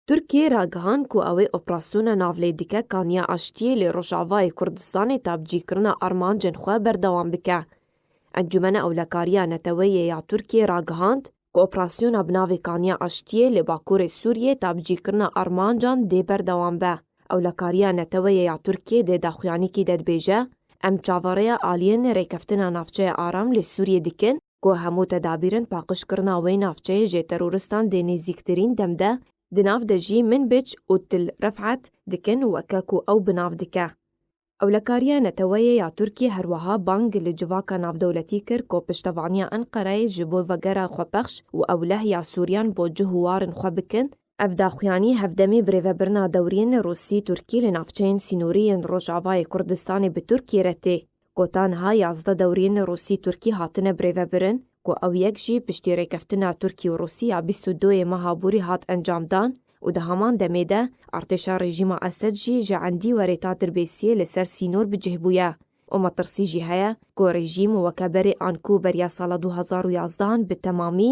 Tirkiyê ragihand ku ew ê operasyona navlêdike kaniya aştiyê li Rojavayê Kurdistanê tavcîkirina armancên xwe berdewam bike. Encûmena Ewlekariya Neteweyê ya Tirkiyê ragihand ku operasyona bi navê Kaniya Aştiyê li Bakurê Sûriyê tavcîkirina armancan dê berdewam be. Ewlekariya Neteweyê ya Tirkiyê dê daxuyanîkî de dibêje, Em çaverêya aliyên rêkeftina navçeya aram li Sûriyê dikin, ku hemû tedabîrên paqijkirina wê navçeyê jê terorîstan dê nêzîktirîn dem de, di nav de jî Minbic û Til Ref'at dikin weke ku ew bi nav dike. Ewlekariya Neteweyê ya Tirkiyê her wiha bang li civaka navdewletî kir ku piştevaniya Enqereyê ji bo vegera xwepexş û ewleh ya Sûriyan bo cih û warên xwe bikin, Ev daxuyanî hevdemî birêvebirina dewrîyên Rûsî-Tirkî li navçeyên sînorî yên Rojavayê Kurdistanê bi Tirkîyê re tê, ku ta niha yazdeh dewrîyên Rûsî-Tirkî hatine birêvebirin, ku ew yek jî piştî rêkeftina Tirkî û Rûsî ya bîst û doyê meha Bûrî hat encamdan û di heman demê de artêşa rejîma Esed jî ji endî werê ta Dirbêsîyê li ser sînor bi cih bûye û metirsî jî heye, ku rejîm weke berê an ku beriya sala du hezar û yazdeh an bi temamî.